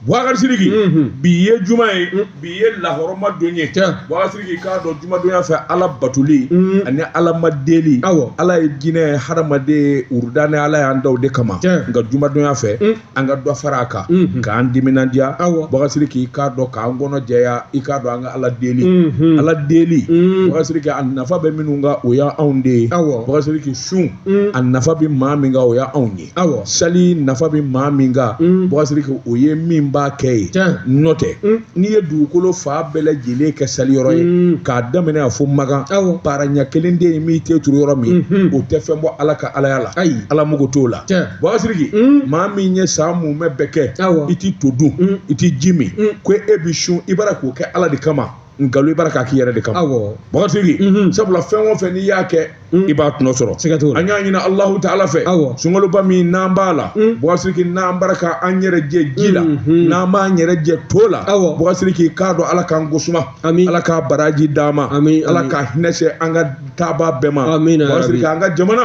Bukari siriki bi ye juma ye bi ye lahɔrɔma don ye Bukari siriki i k'a dɔn jumadonya fɛ ala batoli ani ala ma deli aw ala ye jinɛ ni hadamaden wurudani ni ala y'an da o de kama nka jumadonya fɛ an ka dɔ fara a kan k'an timinandiya Bukari siriki i k'a dɔn k'an kɔnɔ jɛya i k'a dɔn an ka ala deli ala deli Bukari siriki a nafa bɛ minnu kan o y' anw de ye Bukari siriki sun a nafa bɛ maa min kan o y' anw ye awa sali nafa bɛ maa min kan mm. Bukari siriki o ye min b'a kɛ ye n'o tɛ mm. n'i ye dugukolo fan bɛɛ lajɛlen kɛ sali yɔrɔ ye mm. k'a daminɛ a fo makan awa para ɲɛ kelen tɛ yen i m'i ten turu yɔrɔ min mm-hmm. o tɛ fɛn bɔ ala ka alaya la ayi ala mago t'o la Bukari siriki maa min ye san mumɛ bɛɛ kɛ i tɛ to dun i tɛ ji min ko e bɛ sun i bara k'o kɛ ala de kama nkalon i bara k'a k'i yɛrɛ de kama awɔ Bukari siriki mhm. sabula fɛn o fɛn n'i y'a kɛ mhm. i b'a tɔnɔ sɔrɔ siga t'o la an y'a ɲini alahu taala fɛ awɔ sunkaloba min n'an b'a la mhm. Bukari siriki n'an bara ka an yɛrɛ jɛ ji la n'an b'an yɛrɛ jɛ to la awɔ Bukari siriki k'a dɔn ala k'an gosuma ami ala k'a baraji d'an ma ami ala k'a hinɛ se an ka taabaa bɛɛ ma amina Bukari siriki an ka jamana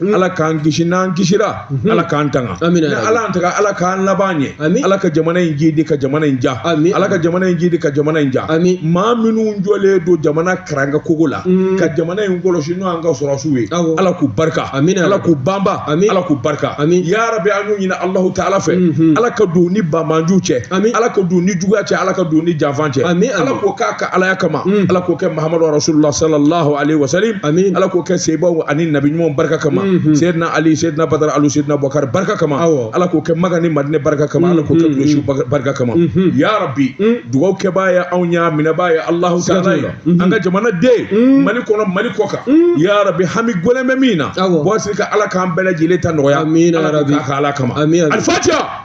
Mm. ala k'an kisi n'an kisira mm-hmm. ala k'an tanga n'ala y'an tanga ala k'an laban ɲɛ ala ka jamana in jidi ka jamana in ja ala ka jamana in jidi ka jamana in ja maa minnu jɔlen don jamana karanga kogo la mm. ka jamana in kɔlɔsi n'o an ka sɔrɔdasiw ye ala k'u barika ala k'u banba ala k'u barika ya rabi an y'o ɲini alahu taala fɛ mm-hmm. ala ka don ni banbaanciw cɛ ala ka don ni juguya cɛ ala ka don ni janfan cɛ ala k'o k'a ka alaya kama mm. ala k'o kɛ mahamadu rasulullah sallallahu alaihi wasallam amin ala k'o kɛ sebaw ani nabi ɲumanw barika kama mhm. seyidina ali seyidina badara alu seyidina abubakari barika kama ala k'o kɛ makan ni madinɛ barika kama ala k'o kɛ kuresiw mhm. barika kama mhm. ya rabi dugawu kɛbaa ye anw y'a minɛbaa ye alahu taala ye an ka jamana den mali kɔnɔ mali kɔ kan ya rabi hami gɔlɛn bɛ min na Bukari siriki ala k'an bɛɛ lajɛlen ta nɔgɔya ala k'o k'a ka ala kama alifatiya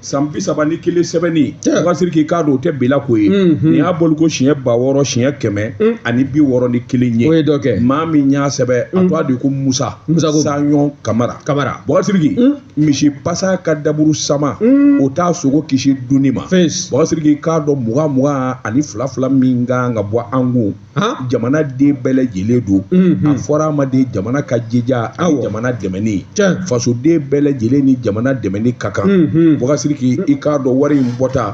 san bi saba ni kelen sɛbɛnni Bukari siriki k'a dɔn o tɛ bila ko ye nin y'a bɔli ko siɲɛ ba wɔɔrɔ siɲɛ kɛmɛ ani bi wɔɔrɔ ni kelen ye o ye dɔ kɛ maa min y'a sɛbɛn a tɔgɔ de ko musa musa sanyɔn kamara kamara Bukari siriki misi pasa ka daburu sama o t'a sogo kisi dunni ma Bukari siriki k'a dɔn mugan mugan ani fila fila min kan ka bɔ an kun jamana den bɛɛ lajɛlen don a fɔra a ma de jamana ka jija ani jamana dɛmɛni fasoden bɛɛ lajɛlen ni jamana dɛmɛni ka kan Bukari siriki i k'a dɔn wari in bɔta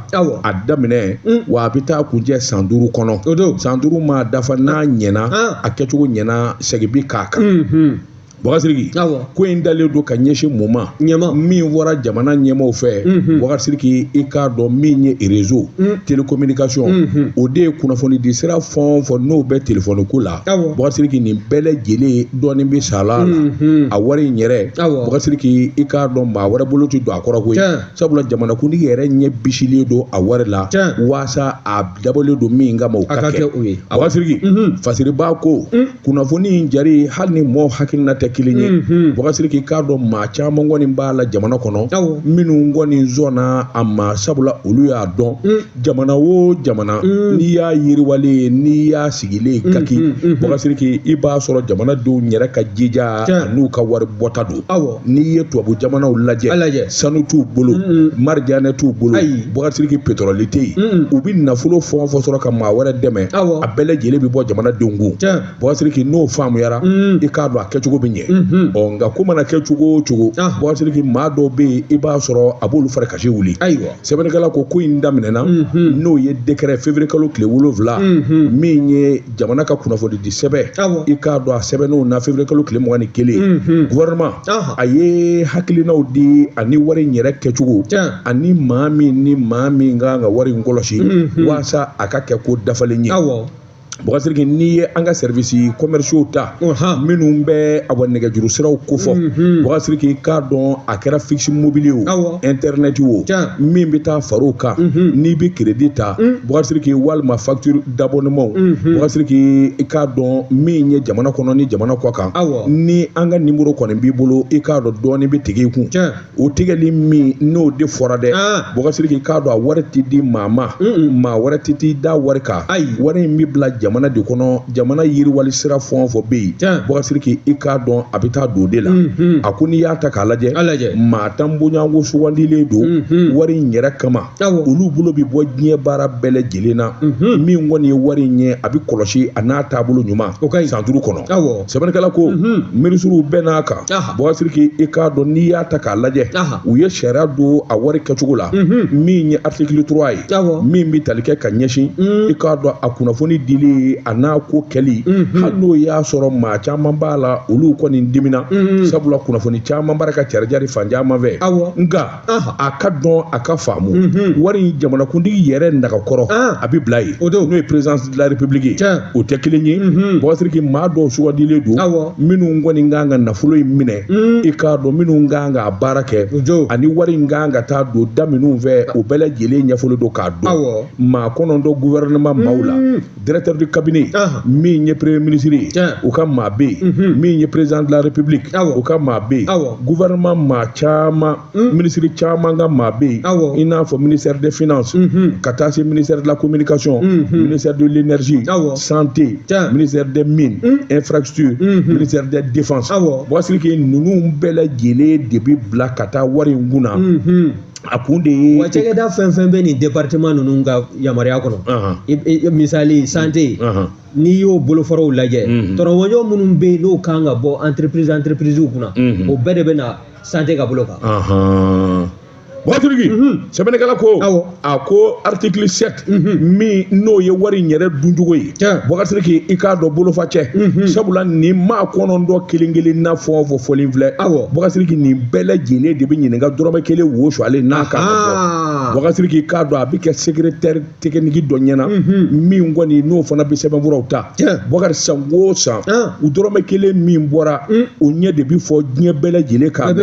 a daminɛ wa a bɛ taa kuncɛ san duuru kɔnɔ san duuru maa dafa n'a ɲɛna a kɛcogo ɲɛna segin bi k'a kan Bubakari Sidiki ko in dalen don ka ɲɛsin mun ma min fɔra jamana ɲɛmaaw fɛ Bubakari Sidiki i k'a dɔn min ye rezo telekominikasɔn o de ye kunnafoni di sira fɛn o fɛn n'o bɛ telefɔni ko la Bubakari Sidiki nin bɛɛ lajɛlen dɔɔnin bɛ sara a la a wari in yɛrɛ Bubakari Sidiki i k'a dɔn maa wɛrɛ bolo tɛ don a kɔrɔ koyi sabula jamanakuntigi yɛrɛ ɲɛ bisilen don a wari la waasa a dabɔlen don min kama a ka kɛ o ye Bubakari Sidiki fasiriba ko kunnafoni in jari hali ni mɔgɔw hakilina tɛ kelen ye Bubakari Sidiki i k'a dɔn maa caman kɔni b'a la jamana kɔnɔ minnu kɔni zɔnna a ma sabula olu y'a dɔn jamana o jamana n'i y'a yiriwalen ye n'i y'a sigilen ye kaki Bubakari Sidiki i b'a sɔrɔ jamana denw yɛrɛ ka jija n'u ka wari bɔta don aw n'i ye tubabu jamanaw lajɛ sanu t'u bolo marijanɛ t'u bolo Bubakari Sidiki petɔrɔli tɛ yen u bɛ nafolo fɛn o fɛn sɔrɔ ka maa wɛrɛ dɛmɛ a bɛɛ lajɛlen bɛ bɔ jamanadenw kun Bubakari Sidiki n'o faamuyara i k'a dɔn a kɛcogo bɛ ɲɛ ɔ nka ko mana kɛ cogo o cogo Bubakari Sidiki maa dɔw bɛ yen i b'a sɔrɔ a b'olu fari kasi wuli ayiwa sɛbɛnnikɛla ko ko in daminɛna n'o ye dekɛrɛ feburuye kalo tile wolowula min ye jamana ka kunnafoni di sɛbɛn i k'a dɔn a sɛbɛnn'o na feburuye kalo tile mugan ni kelen guwɛrɛnɛma a ye hakilinaw di ani wari in yɛrɛ kɛcogo ani maa min ni maa min ka kan ka wari in kɔlɔsi waasa a ka kɛ ko dafalen ye Bubakari Sidiki n'i ye an ka sɛriwisi kɔmɛrisiyo ta minnu bɛ a nɛgɛjuru siraw kofɔ Bubakari Sidiki i k'a dɔn a kɛra fikisi mobili o ɛntɛrinɛti o min bɛ taa far'o kan n'i bɛ kiredi ta Bubakari Sidiki walima fat dabɔnema Bubakari Sidiki i k'a dɔn min ye jamana kɔnɔ ni jamana kɔ kan ni an ka nimɔrɔ kɔni b'i bolo i k'a dɔn dɔɔnin bɛ tigɛ i kun o tigɛli min n'o de fɔra dɛ Bubakari Sidiki i k'a dɔn a wari tɛ di maa ma maa wɛrɛ tɛ t'i da wari kan ayi wari in bɛ bila jamana de kɔnɔ jamana yiriwali sira fɛn o fɛn bɛ yen Bubakari Sidiki i k'a dɔn a bɛ taa don o de la a ko n'i y'a ta k'a lajɛ maa tan bonyako sugandilen don wari in yɛrɛ kama olu bolo bɛ bɔ diɲɛ baara bɛɛ lajɛlen na mhm. min kɔni ye wari in ye a bɛ kɔlɔsi a n'a taabolo ɲuman o ka ɲi san duuru kɔnɔ sɛbɛnnikɛla ko mhm. minisiriw bɛnn'a kan Bubakari Sidiki i k'a dɔn n'i y'a ta k'a lajɛ u ye sariya don a wari kɛcogo la mhm. min ye aritikili turuwa ye min bɛ tali kɛ ka ɲɛsin i k'a dɔn a kunnafoni dili a n'a ko kɛli hali n'o y'a sɔrɔ maa caman b'a la olu kɔni dimina sabula kunnafoni caman b'a ra ka carijari fan caman fɛ nka a ka dɔn a ka faamu wari jamanakuntigi yɛrɛ nagakɔrɔ a bɛ bila yen o n'o ye perezidansi de la republiki ye o tɛ kelen ye Bubakari Sidiki maa dɔw sugandilen don minnu kɔni kan ka nafolo in minɛ i k'a dɔn minnu kan ka baara kɛ ani wari in kan ka taa don da minnu fɛ o bɛɛ lajɛlen ɲɛfɔlen don k'a dɔn maa kɔnɔntɔn guwɛrɛnɛma maaw la Directeur du cabinet min ye premier ministre ye o ka maa bɛ yen mhm. min ye président de la république o ka maa bɛ yen gouvernement maa caman mhm. ministre caman ka maa bɛ yen i n'a fɔ ministère des finances mhm. ka taa se ministère de la communication ministère de l'énergie santé ministère des mines infrastructure ministère des défense Bubakari Siriki ninnu bɛɛ lajɛlen de bɛ bila ka taa wari in kun na a kun de ye wa cakɛda fɛn fɛn bɛ nin département ninnu ka yamaruya kɔnɔ misali santé n'i y'o bolofaraw lajɛ tɔrɔmɔjɔ minnu bɛ yen n'o kan ka bɔ entreprise entreprise kunna o bɛɛ de bɛ na santé ka bolo kan Bubakari Siriki sɛbɛnnikɛla ko a ko article 7 min n'o ye wari in yɛrɛ duncogo ye Bubakari Siriki i k'a dɔn bolofa cɛ sabula nin maa kɔnɔntɔn kelen kelen na fɛn fɛn fɔlen filɛ Bubakari Siriki nin bɛɛ lajɛlen de bɛ ɲininka dɔrɔmɛ kelen wo suwalen n'a kan ka bɔ Bubakari Siriki i k'a dɔn a bɛ kɛ secrétaire technique dɔ ɲɛna min kɔni n'o fana bɛ sɛbɛnfuraw ta Bubakari san o san dɔrɔmɛ kelen min bɔra o ɲɛ de bɛ fɔ diɲɛ bɛɛ lajɛlen kan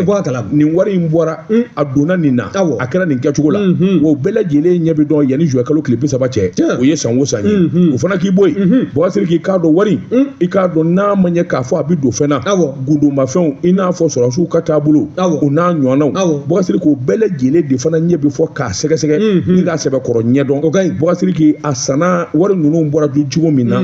nin wari in bɔra un a donna nin na awɔ a kɛra nin kɛcogo la wa o bɛɛ lajɛlen ɲɛ bɛ dɔn yanni juin kalo tile bi saba cɛ o ye san o san ye o fana k'i bɔ yen Bubakari Siriki i k'a dɔn wari i k'a dɔn n'a ma ɲɛ k'a fɔ a bɛ don fɛn na awɔ gundomafɛnw i n'a fɔ sɔrɔsiw ka taabolo awɔ o n'a ɲɔgɔnnaw awɔ Bubakari Siriki o bɛɛ lajɛlen de fana ɲɛ bɛ fɔ k'a sɛgɛsɛgɛ ni k'a sɛbɛkɔrɔ ɲɛdɔn o ka ɲi Bubakari Siriki a san na wari ninnu bɔra cogo min na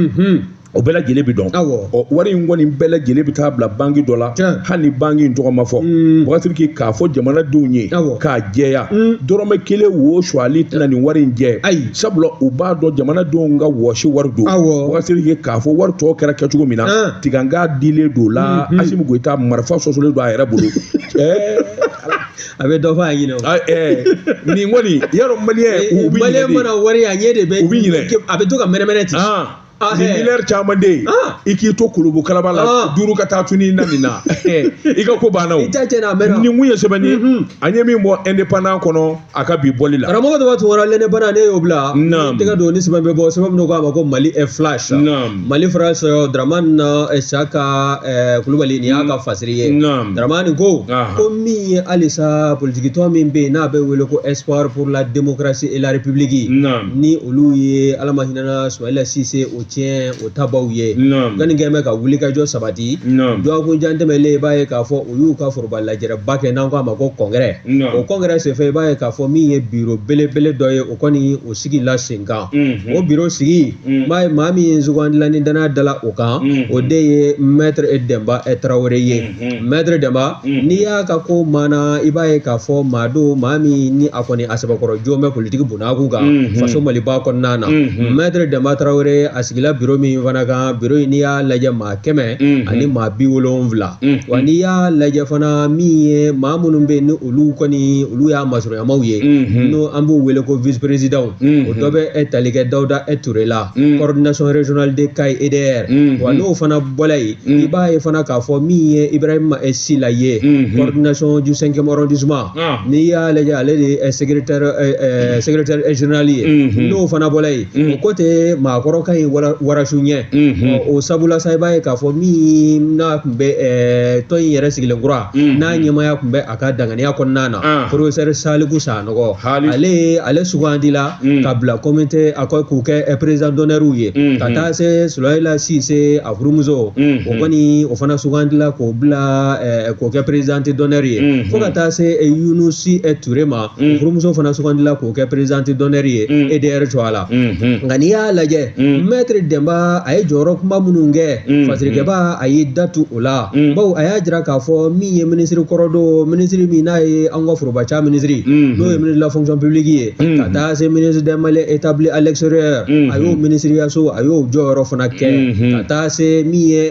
o bɛɛ lajɛlen bɛ dɔn ɔ wari in kɔni bɛɛ lajɛlen bɛ taa bila banki dɔ la hali ni banki in tɔgɔ ma fɔ mm. Bubakari Siriki k'a fɔ jamanadenw ye k'a jɛya mm. dɔrɔmɛ kelen wo suwalen tɛna nin wari in jɛ ayi sabula u b'a dɔn jamanadenw ka wɔsi wari don Bubakari Siriki k'a fɔ wari tɔ kɛra kɛcogo min na ah. tiganga dilen don la mm-hmm. Asimi Goyita marifa sosolen don a yɛrɛ bolo a bɛ dɔ fɔ a ɲinɛ o ah, eh. nin kɔni yarɔ maliyɛn u bɛ ɲinɛ de maliyɛn mana wari a ɲɛ de bɛ u bɛ ɲinɛ a bɛ to ka mɛnɛmɛnɛ ten ah. Ah, ni eh. miliyari caman de ye ah. i k'i to kolobo kalaba la ah. duuru ka taa tuni na nin na eh, i ka ko banna o nin kun ye sɛbɛnni ye mhm. an ye min bɔ indépendant kɔnɔ a ka bi bɔli la karamɔgɔ dɔ b'a tun wɔɔrɔ l'indépendant ne y'o bila n tɛgɛ don ni sɛbɛn bɛ bɔ sɛbɛn min ko a ma ko mali est flash mali france Dramani na eh, Isaka Kulubali nin y'a ka mm. fasiri ye Dramani ko ko min ye halisa politikitɔn min bɛ yen n'a bɛ wele ko espoir pour la démocratie et la république ni olu ye ala ma hinɛna Sumayila Sise o tiɲɛ o tabaw ye Naam. gani kɛn bɛ ka wulikajɔ sabati Naam. dɔgɔkun jan tɛmɛlen i b'a ye k'a fɔ u y'u ka foroba lajɛrɛba kɛ n'an k'a ma ko congrès Naam. o congrès senfɛ i b'a ye k'a fɔ min ye biro belebele dɔ ye o kɔni o sigila senkan Mhm. o biro sigi Mhm. n b'a ye maa min ye sugandila ni dannaya dala o kan Mhm. o de ye maître Demba eh, Tarawele ye Mhm. maître Demba Mhm. n'i y'a ka ko maana i b'a ye k'a fɔ maa don maa min ni a kɔni a sɛbɛkɔrɔ jɔn bɛ politiki bolo n'a kunkan faso maliba kɔnɔna na maître demba tarawele a sigila biro min fana kan biro in n'i y'a lajɛ maa kɛmɛ ani maa bi wolonwula wa n'i y'a lajɛ fana min ye maa minnu bɛ yen ni olu kɔni olu y'a masurunyamaaw ye n'o an b'u wele ko vice président o dɔ bɛ e tali kɛ dawuda e ture la coordination régionale de kayi edr wa n'o fana bɔla yen i b'a ye fana k'a fɔ min ye ibrahima e sila ye coordination du cinquième arrondissement n'i y'a lajɛ ale de ye secrétaire général ye n'o fana bɔla yen o ko tɛ maakɔrɔ ka ɲi warasu ɲɛ o sabula sa i b'a ye k'a fɔ min n'a tun bɛ tɔn in yɛrɛ sigilen kura n'a ɲɛmaaya tun bɛ a ka danganiya kɔnɔna na professeur saliku sanɔgɔ ale sugandila ka bila kɔmi tɛ a k'u kɛ président d'honneur ye ka taa se sumayila sise furumuso o kɔni o fana sugandila k'o bila k'o kɛ président d'honneur ye fo ka taa se yunusi ture ma furumuso fana sugandila k'o kɛ président d'honneur ye edr tɔgɔ la nka n'i y'a lajɛ maître demba a ye jɔyɔrɔ kunba minnu kɛ fasirikɛba a y'i datu o la bawo a y'a jira k'a fɔ min ye minisiri kɔrɔ don minisiri min n'a ye an ka foroba ca minisiri n'o ye ministre de la fonction publique ye ka taa se ministre des maliens établis à l'extérieur a y'o minisiriyaso a y'o jɔyɔrɔ fana kɛ ka taa se min ye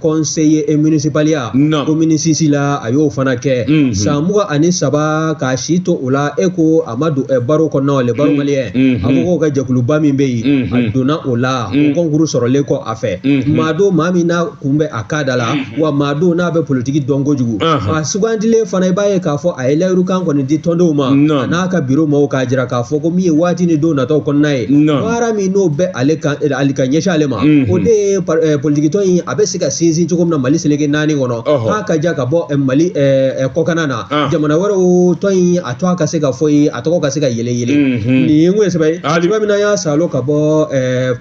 conseiller e municipalya commune six la a y'o fana kɛ san mugan ani saba k'a si to o la e ko a ma don barreau kɔnɔna le barreau malien awokaw ka jɛkuluba min bɛ yen a donna o la o kɔnkuru sɔrɔlen kɔ a fɛ maa don maa min n'a kun bɛ a ka da la mhm. wa maa don n'a bɛ politiki dɔn kojugu a sugandilen fana i b'a ye k'a fɔ a ye layirukan kɔni di tɔndenw ma a n'a ka biro maaw k'a jira k'a fɔ ko min ye waati ni don nataw kɔnɔna ye baara min n'o bɛ ale ka eh, ali ka ɲɛsin ale ma mhm. o de ye eh, politikitɔn in a bɛ se ka sinsin cogo min na mali seleke naani kɔnɔ k'a ka ja ka bɔ eh, mali kɔkanna na ah. jamana wɛrɛw tɔn in a tɔgɔ ka se ka fɔ yen a tɔgɔ ka se ka yɛlɛ yɛlɛ mhm. nin ye n ko ye sɛbɛn ye sɛbɛn min n'an y'a sɔrɔ ka bɔ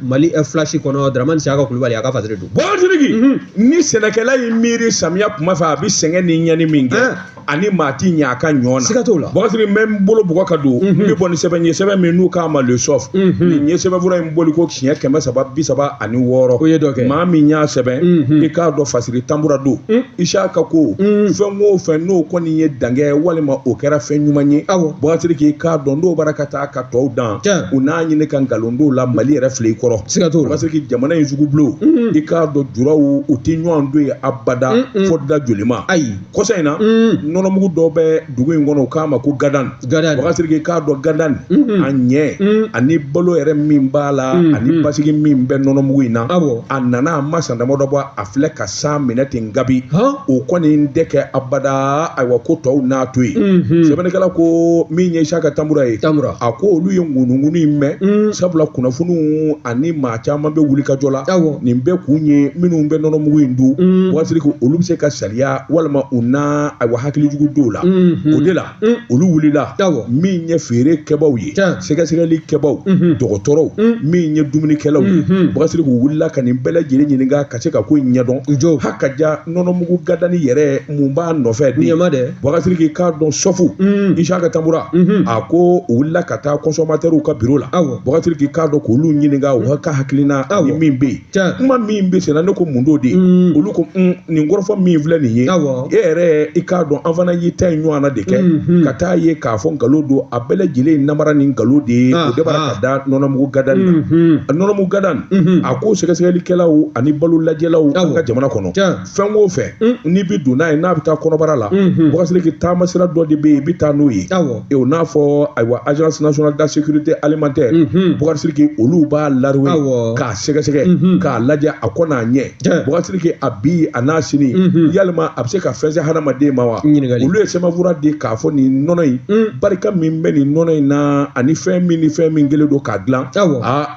mali filasi kɔnɔ daramani siyaka kulubali a ka fasiri Bokasiriki ni sɛnɛkɛla ye miiri samiya kuma fɛ a bɛ sɛgɛn ni ɲani min kɛ ani maa tɛ ɲɛ a ka ɲɔ na siga t'o la bokasiriki n bɛ n bolo bugɔ ka don n bɛ bɔ ni sɛbɛn ye sɛbɛn min n'u k'a ma le soft nin ye sɛbɛnfura in bɔli ko siɲɛ kɛmɛ saba bi saba ani wɔɔrɔ o ye dɔ kɛ maa min y'a sɛbɛn i k'a dɔn fasiri tanbura don isaka ko fɛn o fɛn n'o kɔni ye dan kɛ walima o kɛra fɛn ɲuman ye bokasiriki i k'a dɔn n'o b'a la ka taa taa ka tɔw dan u n'a ɲini ka nkalon dɔw la mali yɛrɛ filɛ i kɔrɔ siga t'o la bokasiriki jamana in sugubulo i k'a dɔn juraw u tɛ ɲɔgɔn don ye abada fo da jolima ayi kɔsa in na nɔnɔmugu dɔ bɛ dugu in kɔnɔ u k'a ma ko gadan bokasiriki i k'a dɔn gadan a ɲɛ ani balo yɛrɛ min b'a la ani basigi min bɛ nɔnɔmugu in na a nana a ma san damadɔ bɔ a filɛ ka san minɛ ten gabi o kɔni tɛ kɛ abada ayiwa ko tɔw n'a to yen mhm. sɛbɛnnikɛla ko min ye isaka tambura ye a ko olu ye ŋunuŋunu in mɛn mm. sabula kunnafoniw ani maa caman bɛ wuli ka jɔ la nin bɛɛ kun ye minnu bɛ nɔnɔmugu in dun mm. Boubacar Sidiki olu bɛ se ka sariya walima u na ayiwa hakilijugu dɔw la mhm. o de la olu wulila min ye feere kɛbaaw ye sɛgɛsɛgɛli kɛbaaw dɔgɔtɔrɔw min ye dumunikɛlaw ye Boubacar Sidiki u wulila ka nin bɛɛ lajɛlen ɲininka ka se ka ko in ɲɛdɔn jo ha ka ja nɔnɔmugu gadani yɛrɛ mun b'a nɔfɛ ɲɛma dɛ Boubacar Sidiki i k'a dɔn sɔfu isaka tambura a ko u wulila ka taa kɔnsɔmatɛriw ka biro la Boubacar Sidiki k'a dɔn k'olu ɲininka u ka hakilina ni min bɛ yen kuma min bɛ senna ne ko mun don de mm. olu ko mm, nin kɔrɔfɔ min filɛ nin ye e yɛrɛ i k'a dɔn an fana y'i ta in ɲɔgɔnna de kɛ mm-hmm. ka taa ye k'a fɔ nkalon don a bɛɛ lajɛlen namara ni nkalon de ye ah, o dabɔra ka da nɔnɔmugu gadani na mm-hmm. nɔnɔmugu gadani mm-hmm. a ko sɛgɛsɛgɛlikɛlaw ani balo lajɛlaw an ka jamana kɔnɔ fɛn o fɛn n'i bɛ don n'a ye n'a bɛ taa kɔnɔbara la Boubacar Sidiki taama sira dɔ de bɛ yen i bɛ taa n'o ye o n'a fɔ ayiwa agence nationale de la sécurité alimentaire Boubacar Sidiki olu b'a laruwe k'a sɛgɛsɛgɛ k'a lajɛ a kɔ n'a ɲɛ Boubacar Sidiki a bi a n'a sini yalima a bɛ se ka fɛn se hadamaden ma wa olu ye sɛbɛnfura di k'a fɔ nin nɔnɔ in barika min bɛ nin nɔnɔ in na ani fɛn min ni fɛn min kɛlen don k'a dilan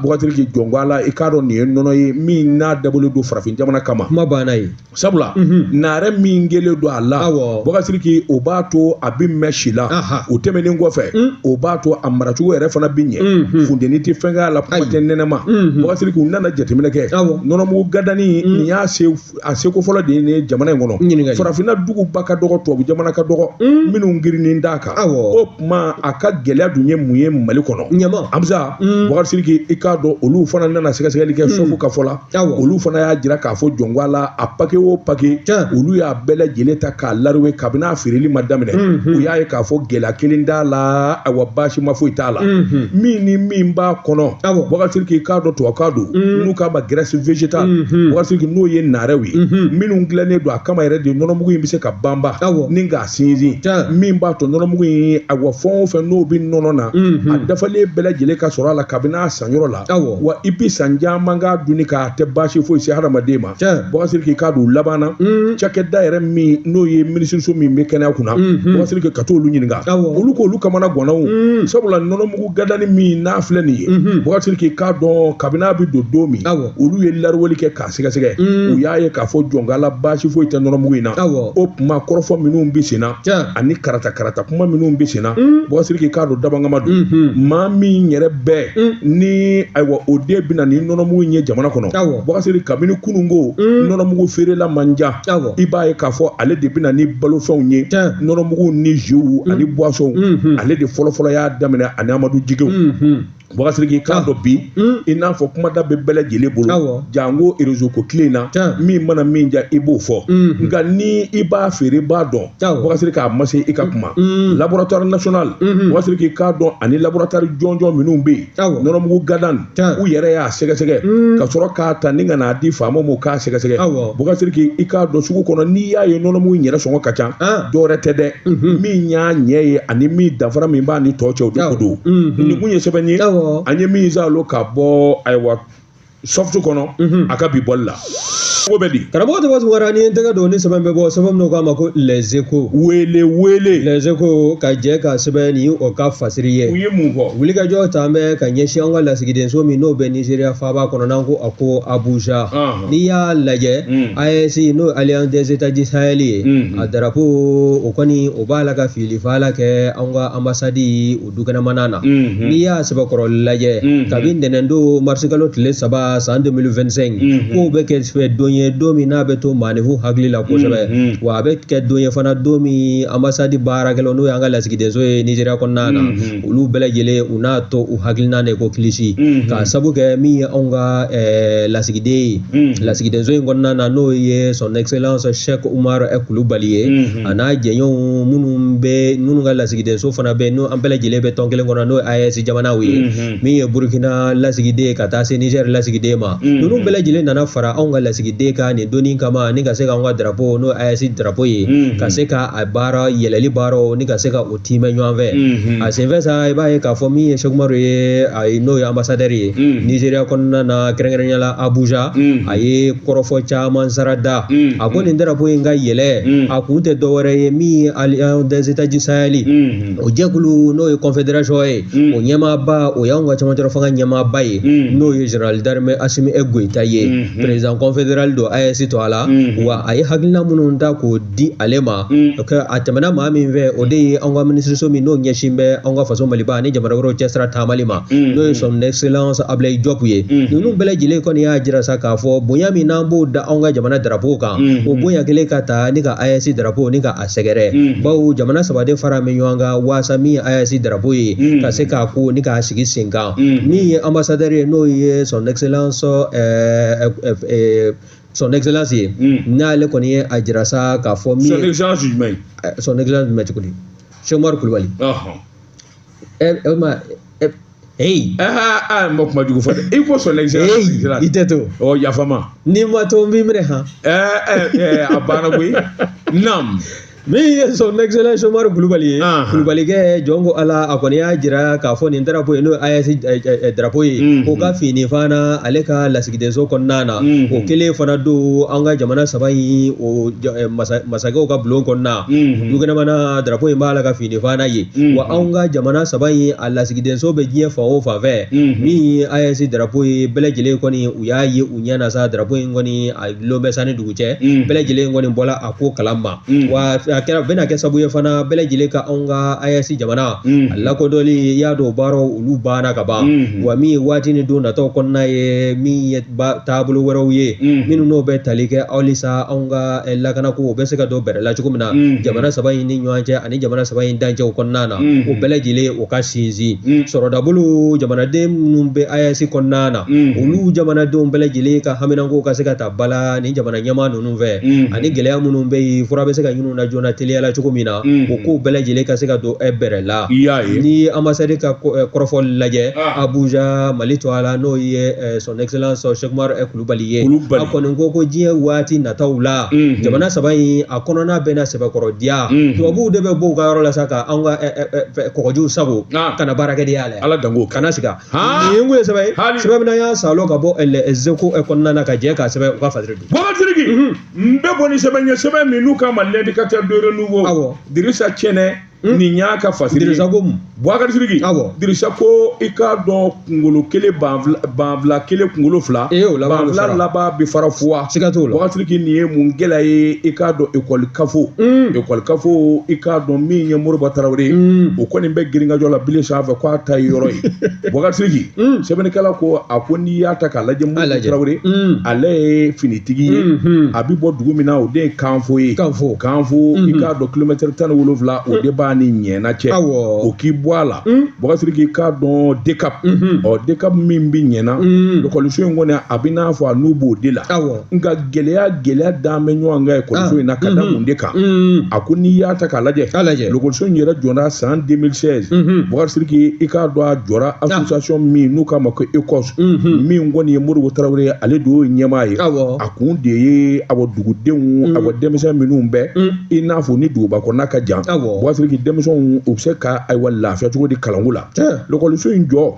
Boubacar Sidiki jɔn ko ala i k'a dɔn nin ye nɔnɔ ye min n'a dabɔlen don farafin jamana kama kuma banna yen sabula mhm. naare min kɛlen don a la Boubacar Sidiki o b'a to a bɛ mɛn si la o tɛmɛnen kɔfɛ mm. o b'a to a maracogo yɛrɛ fana bɛ ɲɛ mhm. funteni tɛ fɛn k'a la kuma tɛ nɛnɛ ma mhm. Boubacar Sidiki u nana jateminɛ kɛ nɔnɔmugu gadani nin y'a se a seko fɔlɔ de ye nin jamana in kɔnɔ ɲininkali farafinna duguba ka dɔgɔ tubabu jamana ka dɔgɔ mm. minnu girinin d'a kan awɔ o tuma a ka gɛlɛya dun ye mun ye mali kɔnɔ yan Amza mm. Boubacar Sidiki i k'a dɔn olu fana nana sɛgɛsɛgɛli kɛ mm. sɔfu ka fɔ la awɔ olu fana y'a jira k'a fɔ jɔn ko ala a pake o pake olu y'a bɛɛ lajɛlen ta k'a laruwe kabini a feereli ma daminɛ u y'a ye k'a fɔ gɛlɛya kelen t'a la awa baasima foyi t'a la min ni min b'a kɔnɔ Boubacar Sidiki i k'a dɔn tubabukan don n'u k'a ma graisse végétale Boubacar Sidiki n'o ye naarɛw ye minnu dilannen don a kama yɛrɛ de nɔnɔmugu in bɛ se ka banba ni k'a sinsin min b'a to nɔnɔmugu in awa fɛn o fɛn n'o bɛ nɔnɔ na a dafalen bɛɛ lajɛlen ka sɔrɔ a la kabini a sanyɔrɔ la wa i bɛ san caman k'a dunni k'a tɛ baasi foyi se hadamaden ma Boubacar Sidiki k'a don laban na cakɛda yɛrɛ min n'o ye minisiriso min bɛ kɛnɛya kunna Boubacar Sidiki ka t'olu ɲininka olu ko olu kamana ganna sabula nɔnɔmugu gadani min n'a filɛ nin ye Boubacar Sidiki i k'a dɔn kabini a bɛ don don min olu ye laruweli kɛ k'a sɛgɛsɛgɛ u y'a ye k'a fɔ jɔn ko ala baasi foyi tɛ nɔnɔmugu in na o tuma kɔrɔfɔ minnu bɛ sen na ani karata karata kuma minnu bɛ senna mm. boubacar sidiki k'a dɔn dabangama don mm-hmm. maa min yɛrɛ bɛɛ mm. ni ayiwa o de bɛ na ni nɔnɔmugu in ye jamana kɔnɔ boubacar sidiki kabini kununko mm. nɔnɔmugu feerela man ca i b'a ye k'a fɔ ale de bɛ na ni balofɛnw ye nɔnɔmugu ni ziw ani buwasɔnw mm-hmm. ale de fɔlɔfɔlɔ y'a daminɛ ani amadu jigew mm-hmm. Boubacar Sidiki k'a ah. dɔn bi hmm. i n'a fɔ kumada bɛ bɛɛ lajɛlen bolo janko erezo ko tile na min mana min diya i b'o fɔ hmm. nka ni i b'a feere b'a dɔn Boubacar Sidiki a ma se i ka kuma hmm. laboratoire national Boubacar Sidiki k'a dɔn ani laboratoire jɔnjɔn minnu bɛ yen nɔnɔmugu gadan u yɛrɛ y'a sɛgɛsɛgɛ ka sɔrɔ k'a ta ni ka n'a di faamaw ma k'a sɛgɛsɛgɛ Boubacar Sidiki i k'a dɔn sugu kɔnɔ n'i y'a ye nɔnɔmugu in yɛrɛ sɔngɔ ka ca ah. dɔwɛrɛ tɛ dɛ min y'a ɲɛ ye ani min danfara min b'a ni tɔ cɛ o de ko don nin kun ye sɛbɛn ye an ye min zalo ka bɔ ayiwa soft kɔnɔ a ka bi bɔli la ko bɛ di karamɔgɔ tɔgɔ tunkara ni n tɛgɛ don ni sɛbɛn bɛ bɔ sɛbɛn min k'a ma ko les échos wele wele les échos ka jɛ ka sɛbɛnni o ka fasiri ye u ye mun fɔ wulikajɔ ta bɛ ka ɲɛsin an ka lasigidenso min n'o bɛ nizeriya faaba kɔnɔ n'an ko a ko abuja n'i y'a lajɛ AES n'o ye Alliance des Etats du Sahel ye a darapo o kɔni o b'a la ka filifala kɛ anw ka anbasadi o dukɛnɛmana na n'i y'a sɛbɛkɔrɔ lajɛ kabi ntɛnɛndon marisikalo tile saba san 2025 k'o bɛ kɛ don ye don min n'a bɛ to maaninfinw hakili la kosɛbɛ wa a bɛ kɛ don ye fana don min anbasadi baarakɛlaw n'o y'an ka lasigidenso ye Nizeriya kɔnɔna na olu bɛɛ lajɛlen u n'a to u hakili na de ko kilisi mhm. k'a sabu kɛ min ye anw ka eh, lasigiden ye mhm. lasigidenso in kɔnɔna na n'o ye son excellence cheikh umar kulubali ye mhm. a n'a jɛɲɔgɔnw minnu bɛ minnu ka lasigidenso fana bɛ n'o an bɛɛ lajɛlen bɛ tɔn kelen kɔnɔ n'o ye AES jamanaw ye min ye burkina lasigiden ka taa se niger lasigiden ma ninnu bɛɛ lajɛlen nana fara anw ka lasigiden kan nin don in kama ni ka se k'anw ka drapo n'o AES drapo ye ka se ka a baara yɛlɛli baaraw ni ka se ka o tiimɛ ɲɔgɔn fɛ a senfɛ sa i b'a ye k'a fɔ min ye cheikh umaru ye a ye n'o ye anbasadɛri ye nizeriya kɔnɔna na kɛrɛnkɛrɛnya la abuja a ye kɔrɔfɔ caman sarada a ko nin darapo in ka yɛlɛ a kun tɛ dɔwɛrɛ ye min ye alliance des états du sahel o jɛkulu n'o ye confederation ye o ɲɛmaaba o y'anw ka camancɛla fanga ɲɛmaaba ye n'o ye général d'armée asimi goyita ye président confédéral don AES tɔgɔ la wa a ye hakilina minnu ta k'o di ale ma a tɛmɛna maa min fɛ o de ye an ka minisiriso min n'o ɲɛsin bɛ an ka faso maliba ani jamana wɛrɛw cɛsira taamali ma n'o ye son excellence ablayi jɔpu ye ninnu bɛɛ lajɛlen kɔni y'a jira sa k'a fɔ bonya min n'an b'o da an ka jamana darapo kan o bonya kelen ka ta ni ka AES darapo ni ka a sɛgɛrɛ bawo jamana saba de fara min ɲɔgɔn kan waasa min ye AES darapo ye ka se k'a ko ni k'a sigi sen kan min ye ambassadeur ye n'o ye son excellence son excellence ye n'ale kɔni ye a jira sa k'a fɔ min son excellence jumɛn ye son excellence jumɛn cogo di Sɛku Umaru Kulubali e ma Hey. Ah, ah, ma kuma jugu fɔ dɛ i ko son excellence i tɛ to ɔ yafa n ma n'i ma to n b'i minɛ han ɛɛ ɛɛ a banna koyi nam min ye son excellence Umaru Kulubali ye Kulubalikɛ jɔn ko Ala a kɔni y'a jira k'a fɔ nin drapeau ye n'o ye AES drapeau ye k'o ka finifana ale ka lasigidenso kɔnɔna na o kelen fana don an ka jamana saba in o masakɛw ka bulon kɔnɔna dukɛnɛmana drapeau in b'a la ka finifana yen wa anw ka jamana saba in a lasigidenso bɛ diɲɛ fan o fan fɛ min ye AES drapeau ye bɛɛ lajɛlen kɔni u y'a ye u ɲɛ na sa drapeau in kɔni a dulon bɛ san ni dugu cɛ mm. bɛɛ lajɛlen kɔni bɔla a ko kalama mm. wa a kɛra bɛna kɛ sabu ye fana bɛɛ lajɛlen ka anw ka AES jamana mm. a lakodɔnli i y'a dɔn baaraw olu banna ka ban mm-hmm. wa min ye waati ni don nataw kɔnɔna ye min ye taabolo wɛrɛw ye mm-hmm. minnu n'o bɛ tali kɛ halisa anw ka eh, lakanako o bɛ se ka don bɛrɛ la cogo min na mm-hmm. jamana saba in ni ɲɔgɔn cɛ ani jamana saba in dancɛw kɔnɔna na o bɛɛ lajɛlen o ka sinsin sɔrɔ dabolo jamanaden minnu bɛ AES kɔnɔna na olu jamanadenw bɛɛ lajɛlen ka haminanko ka se ka ta ba la ni jamana ɲɛmaa ninnu fɛ mhm. ani gɛlɛya minnu bɛ yen fura bɛ se ka ɲinin u na joona teliyala cogo min na mhm. o kow bɛɛ lajɛlen ka se ka don eh, bɛrɛ la nin ambasadi ka eh, kɔrɔfɔli lajɛ ah. Abuja Mali tɔgɔ la n'o ye eh, son excellence Sɛku Umaru Kulubali ye a kɔni ko ko diɲɛ waati nataw la mhm. jamana saba in a kɔnɔna bɛna sɛbɛkɔrɔdiya tubabuw de bɛ bɔ u ka yɔrɔ la sa ka an ka kɔgɔjiw sagon ah. ka na baarakɛdenya la ala danko kana siga nin kun ye sɛbɛn ye sɛbɛn min an y'a salo ka bɔ Les Echos kɔnɔna na ka jɛ k'a sɛbɛn u ka fasiri don Bubakari Sidiki n bɛ bɔ ni sɛbɛn ye sɛbɛn min n'u k'a ma L'Indicateur du Renouveau awɔ Dirisa Cɛnɛ nin y'a ka fasiri dirisa ko mun Bubakari Sidiki awɔ dirisa ko i k'a dɔn kunkolo kelen banfila kelen kunkolo fila banfila laban bɛ fara fuwa siga t'o la Bubakari Sidiki nin ye mun gɛlɛya ye i k'a dɔn ekɔli kafo mm. ekɔli kafo i k'a dɔn min ye moriba tarawele mm. o kɔni bɛ girinkajɔ la bile sanfɛ k'a ta ye yɔrɔ ye Bubakari Sidiki mm. sɛbɛnnikɛla ko a ko n'i y'a ta k'a lajɛ moriba tarawele ale ye finitigi ye mm-hmm. a bɛ bɔ dugu min na o de ye kanfo ye kanfo kanfo i mm-hmm. k'a dɔn kilomɛtɛri tan ni wolonwula o de b'a ni Ɲɛna cɛ o k'i bɔ a la Bubakari Sidiki i k'a dɔn DCAP ɔ DCAP min bɛ Ɲɛna ekɔliso in kɔni a bɛ n'a fɔ a n'u b'o de la nka gɛlɛya gɛlɛya dan bɛ ɲɔgɔn kan ekɔliso in na ka da mun de kan a ko n'i y'a ta k'a lajɛ ekɔliso in yɛrɛ jɔra san 2016 Bubakari Sidiki i k'a dɔn a jɔra association min n'u k'a ma ko ECOS min kɔni ye Moriba Tarawele ye ale de y'o ɲɛmaa ye a kun de ye awɔ dugudenw awɔ denmisɛn minnu bɛ i n'a fɔ ni duguba kɔnɔna ka jan Bubakari Sidiki denmisɛnw u bɛ se ka ayiwa lafiya cogo di kalanko la lɔkɔliso in jɔ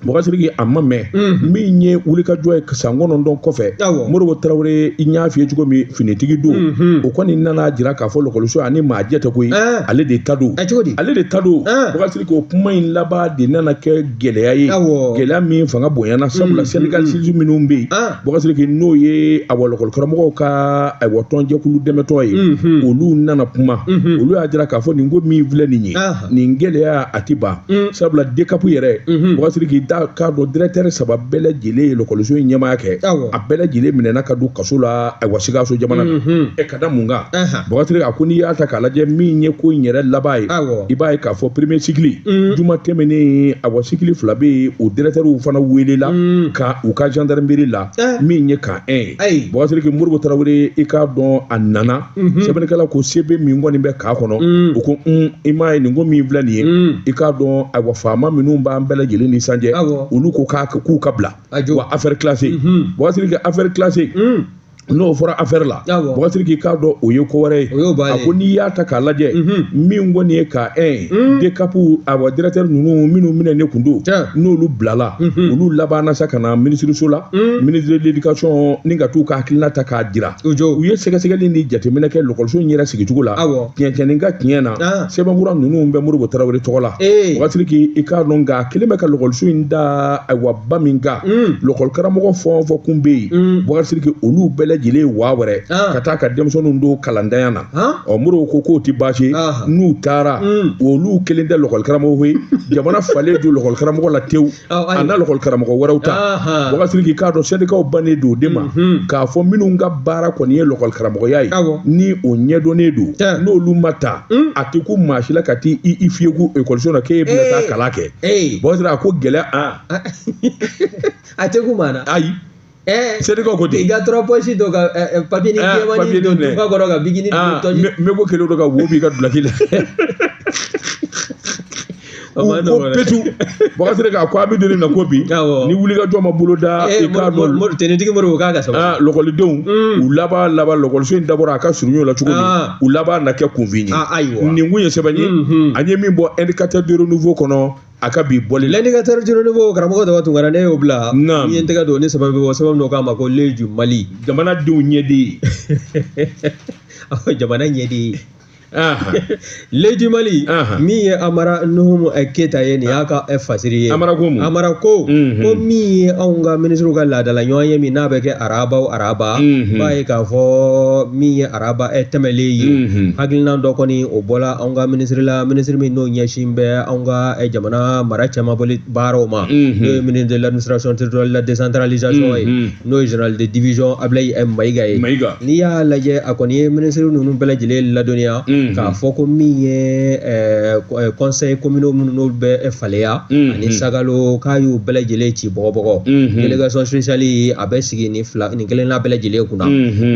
bokari siriki a ma mɛn min ye wulikajɔ ye san kɔnɔntɔn kɔfɛ moribo tarawele n y'a f'i ye cogo min finitigi don o kɔni nana jira k'a fɔ lɔkɔliso in a ni maa jɛ tɛ koyi ale de ta don ale de ta don bokari siriki o kuma in laban de nana kɛ gɛlɛya ye gɛlɛya min fanga bonyana sabula sɛndikalisi minnu bɛ yen bokari siriki n'o ye awa lɔkɔli karamɔgɔw ka ayiwa tɔnjɛkulu dɛmɛtɔn ye olu nana kuma olu y'a jira k'a fɔ nin ko min filɛ nin ye nin gɛlɛya a tɛ ban mm. sabula dekapu yɛrɛ mm-hmm. bokari siriki i k'a dɔn dɛrɛtɛri saba bɛɛ lajɛlen ye lɔkɔliso in ɲɛmaaya kɛ a bɛɛ lajɛlen minɛna ka don kaso la ayiwa sikaso jamana na mm-hmm. ɛ ka da mun kan bokari siriki a ko n'i y'a ta k'a lajɛ min ye ko in yɛrɛ laban ye i b'a ye k'a fɔ premier sikili mm. juma tɛmɛnen ayiwa sikili fila bɛ yen o dɛrɛtɛriw fana welela mm. ka u ka gendarmerie la eh. min ye camp 1 ye bokari siriki moribo tarawele i k'a dɔn a nana Mhm. sɛbɛnnikɛla ko sɛbɛ min kɔni bɛ k'a kɔnɔ mm. u ko mm, i m'a ye nin ko min filɛ nin ye mm. i k'a dɔn ayiwa faama minnu b'an bɛɛ lajɛlen ni san cɛ olu ko k'a k'u k'a bila awa affaire classée mhm. bokari siriki affaire classée n'o fɔra affaire la bokari siriki i k'a dɔn o ye ko wɛrɛ ye a ko n'i y'a ta k'a lajɛ mhm. min kɔni ye ka ɛ dekapu awa directeur ninnu minnu minɛnen kun don n'olu bilala olu labanna sa ka na minisiriso la ministre de l'éducation ni ka t'u ka hakilina ta k'a jira u jɔ u ye sɛgɛsɛgɛli ni jateminɛ kɛ lɔkɔliso in yɛrɛ sigicogo la awɔ tiɲɛtiɲɛni ka tiɲɛ na Ah. sɛbɛnfura ninnu bɛ moribo tarawele tɔgɔ la Ee. bokari siriki i k'a dɔn nka a kelen bɛ ka lɔkɔliso in da ayiwa ba min kan Mm. lɔkɔli karamɔgɔ fɛn o fɛn kun bɛ yen Mm. bokari siriki olu bɛɛ lajɛlen ye waa wɛrɛ Ah. ka taa ka denmisɛnninw don kalantanya na Han? ɔ moribo ko k'o tɛ baasi ye Ah. n'u taara Mm. olu kelen tɛ lɔkɔli karamɔgɔ ye jamana falen don lɔkɔli karamɔgɔ la tewu a na lɔkɔli karamɔgɔ wɛrɛw ta bokari siriki i k'a dɔn sɛndikaw bannen don de ma mhm. k'a fɔ minnu ka baara kɔni ye lɔkɔli karamɔgɔya ye ni o ɲɛdɔnnen don n'olu ma ta hmm? a tɛ kun maa si la ka t'i i fiyeku ekɔliso la k'e bɛna taa kalan kɛ bokari siriki a ko gɛlɛya a tɛ kun maa na ayi Eh, seri ko ko ten i ka trois poches don ka eh, eh, papiyenin jɛmannin don dufa kɔrɔ ka bikinin don ah, tɔji n bɛ ko kelen dɔ ka wo b'i ka dulaki la ko petu bokari siriki a ko a bɛ doni na ko bi ni wulikajɔ ma boloda i k'a dɔn tɛnitigi moribo k'a ka saba ah, lɔkɔlidenw mm. u laban laban lɔkɔliso in dabɔra a ka surun ɲɔgɔn la cogo min ah. u laban na kɛ kunfin ye nin kun ye sɛbɛn ye mm-hmm. an ye min bɔ indicateur de renouveau kɔnɔ a ka bi bɔli l'indicateur de renouveau karamɔgɔ dɔ tun kɛra ne y'o bila n ye n tɛgɛ don ne sababu bɔ sababu dɔ kama ko l'œil du mali jamanadenw ɲɛden jamana ɲɛden l'œil du mali min ye amara nuhumu eh, keyita ye nin y'a ka eh, fasiri ye amara ko amara ko mhm. ko min ye anw ka minisiriw ka laadala ɲɔgɔnye min n'a bɛ kɛ araba araba b'a mhm. ye k'a fɔ min ye araba ɛ eh, tɛmɛlen ye mhm. hakilina dɔ kɔni o bɔla anw ka minisiri la minisiri min n'o ɲɛsin bɛ anw ka eh, jamana mara cɛmabɔli baaraw ma mhm. n'o ye ministre de l'administration territoriale la décentralisation ye mhm. n'o ye général de division Ablaye Mayiga ye n'i y'a lajɛ a kɔni ye minisiri ninnu bɛɛ lajɛlen ladɔnniya k'a fɔ ko min ye eh, conseil communaux minnu n'olu bɛ faleya ani sagalo k'a y'u bɛɛ lajɛlen ci bɔgɔbɔgɔ délégation spéciale a bɛ sigi nin fila kelenna bɛɛ lajɛlen kunna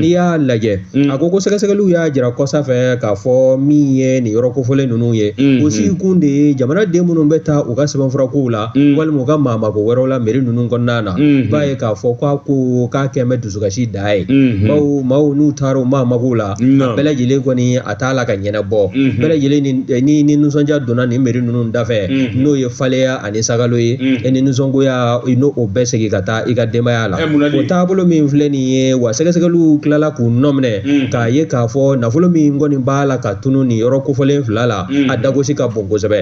n'i y'a lajɛ a ko ko sɛgɛsɛgɛliw y'a jira kɔsa fɛ k'a fɔ min ye nin yɔrɔ kofɔlen ninnu ye o sigi kun de ye jamana den minnu bɛ taa u ka sɛbɛnfurakow la walima u ka maamako wɛrɛw la meri ninnu kɔnɔna na b'a ye k'a fɔ k'a ko k'a kɛlen bɛ dusukasi da ye bawo maaw n'u taara u maamakow la bɛɛ lajɛlen kɔni a t'a la ka ɲɛnabɔ bɛɛ lajɛlen ni nisɔndiya donna nin meri ninnu dafɛ n'o ye faleya ani sagalo ye e ni nisɔngoya i n'o o bɛ segin ka taa i ka denbaya la o taabolo min filɛ nin ye wa sɛgɛsɛgɛliw tilala k'u nɔ minɛ k'a ye k'a fɔ nafolo min kɔni b'a la ka tunu nin yɔrɔ kofɔlen fila la a dagosi ka bon kosɛbɛ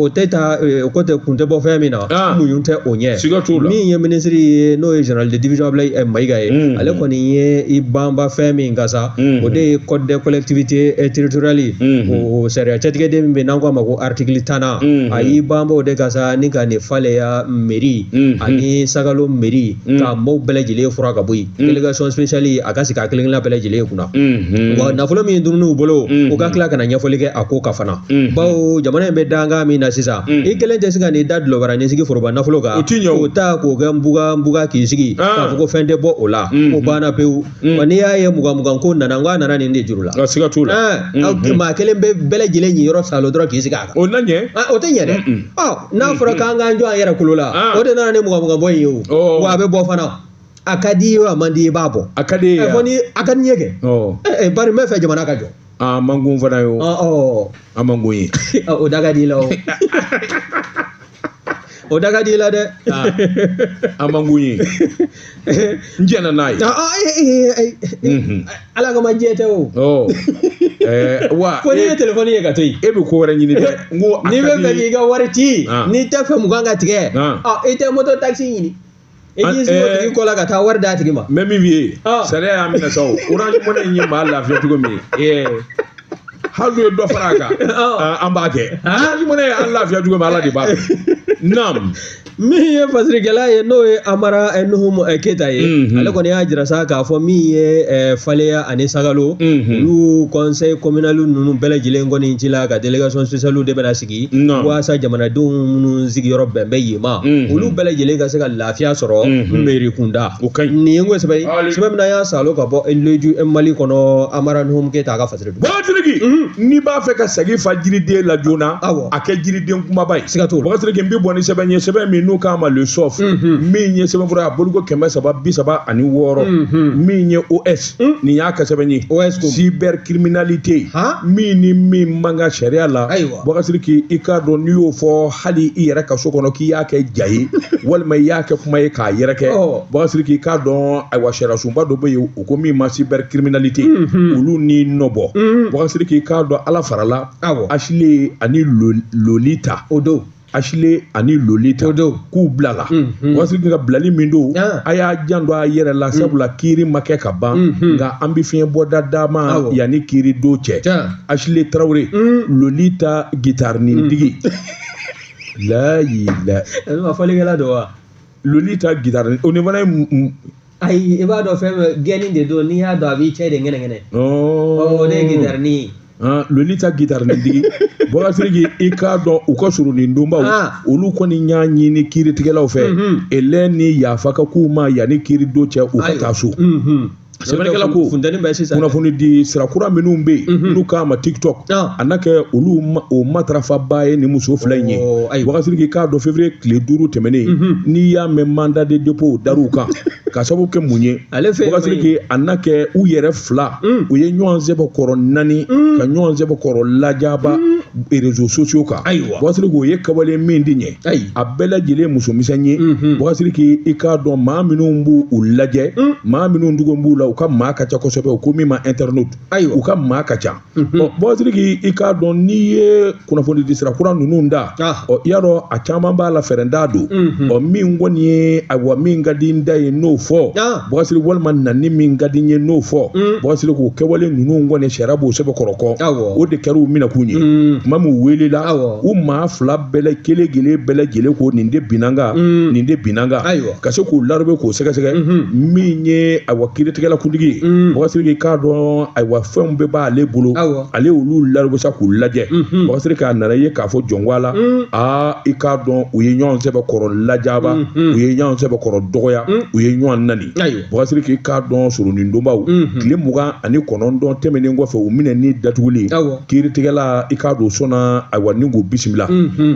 o tɛ ta o ko tɛ kun tɛ bɔ fɛn min na muɲu tɛ o ɲɛ min ye minisiri ye n'o ye général de division Abulayi Mayiga ye ale kɔni ye i banba fɛn min kan sa o de ye code de collectivité territoriale o sariya cɛtigɛden min bɛ yen n'an k'a ma ko article tan na a y'i banba o de kan sa ni ka nin faleya mairie ani sagalo mairie ka maaw bɛɛ lajɛlen furan ka bɔ yen délégation spéciale a ka sigi a kelen kelenna bɛɛ lajɛlen kunna wa nafolo min dunna u bolo u ka tila ka na ɲɛfɔli kɛ a ko kan fana bawo jamana in bɛ dankan min na sisan i kelen tɛ se ka n'i da dulɔbara n'i sigi foroba nafolo kan o tiɲɛ o ta k'o kɛ nbugan nbugan k'i sigi k'a fɔ ko fɛn tɛ bɔ o la o banna pewu Mm. Wa n'i y'a ye mugan mugan ko nana n ko a nana nin de juru la. Nka siga t'o la. Ɛɛ mm-hmm. aw tun maa kelen bɛ bɛɛ lajɛlen niyɔrɔ salo dɔrɔn k'i sigi a kan. O na ɲɛ. Aa o tɛ ɲɛ dɛ. Ɔ n'a mm-hmm. fɔra k'an k'an jɔ an yɛrɛ kolo la. Ah. O de nana ni mugan mugan bɔ in ye o. Oh. Wa a bɛ bɔ fana. A ka di i ye o a man di i ye i b'a bɔ. A ka di e ye a. Ɛ fɔ ni a ka di n ye kɛ. Oh. Ɛ ɛ bari n b'a fɛ jamana ka jɔ. A ah, man go n fana ye o. Ɔ ɔ. A man go n ye. O da ka di i la o. o da ka di i la dɛ Ah, a man go n ye n jɛnna n'a ye Ah, ah, eh, eh, eh, eh, eh, Mhm. ala kama jɛn tɛ o Ɔ, ɛɛ, wa fo n'i ye e telefɔni ye ka to yen e bɛ ko wɛrɛ ɲini dɛ n ko a n'i b'a fɛ di- k'i ka wari ci Ah. n'i t'a fɛ mugan ka tigɛ Ah. ah, i tɛ moto takisi ɲini e k'i sigi o tigi kɔ la ka taa wari d'a tigi ma mais min b'i ye sariya y'a minɛ sa o orange money in ye maa lafiya cogo min hali u ye dɔ fara a kan an b'a kɛ orange money an lafiya cogo min ala de b'a dɔn naam min ye fasirikɛla ye n'o ye amara nuhum keyita ye ale kɔni y'a jira sa k'a fɔ min ye faleya ani sagalo olu conseil communal ninnu bɛɛ lajɛlen kɔni cila ka délégation spéciale de bɛna sigi ye waasa jamanadenw minnu sigiyɔrɔ bɛn bɛ yen ma olu bɛɛ lajɛlen ka se ka lafiya sɔrɔ meri kunda o ka ɲi nin ye n ko sɛbɛn ye sɛbɛn min y'a salo ka bɔ leju mali kɔnɔ amara numu keyita ka fasiri don bɔkasiriki n'i b'a fɛ ka sagi fa jiriden la joona awɔ a kɛ jiriden kumaba ye siga t'o la bɔkasiriki n bɛ bɔ ni sɛbɛn ye sɛbɛn min n'u k'a ma Le Soft min ye sɛbɛn fura a bolo ko kɛmɛ saba bi saba ani wɔɔrɔ min ye os Hmm? nin y'a ka sɛbɛn ye cybercriminalité min ni min man kan sariya la bɔkasiriki i k'a dɔn n'i y'o fɔ hali i yɛrɛ ka so kɔnɔ k'i y'a kɛ ja ye walima i y'a kɛ kuma ye k'a yɛrɛkɛ bɔkasiriki i k'a dɔn ayiwa sariyasunba dɔ bɛ yen u ko min ma cybercriminalité mhm. olu ni nɔbɔ mhm. bɔkasiriki i k'a dɔn ala farala asile ani lolita o don asile ani lolita k'u bilala bɔkasiriki nka bilali min don a y'a janto a yɛrɛ la sabula kiiri ma kɛ ka ban nka an bɛ fiɲɛ bɔda d'a ma yanni kiiri don cɛ asile tarawele lolita gitarini digi layila fɔlikɛla don wa lolita gitari o ni fana ye m- m- ayi i b'a dɔn fɛn bɛ gɛnni de don n'i y'a don a b'i cɛ de ŋɛnɛŋɛnɛ ɔɔ, o de ye gitarini ye han, lolita gitarini digi bɔkasiriki i k'a dɔn u ka soronadonbaw Ah. olu kɔni y'a ɲini kiiritigɛlaw fɛ Mhm. hinɛ ni yafa ka k'u ma yanni kiiri don cɛ u ka Ayiwa. taa so Mhm. sɛbɛnnikɛla ko funteni bɛ sisan kunnafoni di sira kura minnu bɛ yen mhm. n'u k'a ma tiktok a na kɛ olu o matarafabaa ye nin muso fila in ye bɔkasiriki i k'a dɔn février tile duuru tɛmɛnen mhm. n'i y'a mɛn mandat de dépôt dar'u kan ka sababu kɛ mun ye bɔkasiriki a na kɛ u yɛrɛ fila mm. u ye ɲɔgɔn sɛbɛkɔrɔ nani mm. ka ɲɔgɔn sɛbɛkɔrɔ lajaba mm. réseaux sociaux kan bɔkasiri k'o ye kɛwale min tɛ ɲɛ ayi a bɛɛ lajɛlen ye musomisɛn ye bɔkasiriki i k'a dɔn maa minnu b'u u lajɛ maa minnu tugu b'u la u ka maa ka ca kosɛbɛ u ko min ma internet ayiwa u ka maa ka ca bɔkasiriki i k'a dɔn n'i ye kunnafoni di sira kura ninnu ta ɔ i y'a dɔn a caman b'a la fɛrɛ da don ɔ min kɔni ye ayiwa min ka di n da ye n'o fɔ bɔkasiri walima nani min ka di n ye n'o fɔ mm. bɔkasiri k'o kɛwale ninnu kɔni sariya b'o sɛbɛkɔrɔ kɔn o de kɛra u minɛkun ye mm. tuma min weelela u maa fila bɛɛ kelen kelen bɛɛ lajɛlen ko nin de binna n kan mm. nin de binna n kan ka se k'u larube k'o sɛgɛsɛgɛ mm-hmm. min ye ayiwa kiiritigɛla kuntigi ye bɔkasiriki k'a dɔn ayiwa fɛnw bɛɛ b'ale bolo ale olu larube sa k'u lajɛ bɔkasiri k'a nana ye k'a fɔ jɔnwa la aa i k'a dɔn u ye ɲɔgɔn sɛbɛkɔrɔ lajaba u ye ɲɔgɔn sɛbɛkɔrɔ dɔgɔya u ye ɲɔgɔn nani bɔkasiriki i k'a dɔn soronadonbaw tile mugan ani kɔnɔntɔn tɛmɛnen kɔfɛ u minɛ ni datuguli kiiritigɛla i k'a dɔn sɔnna ayiwa ni k'u bisimila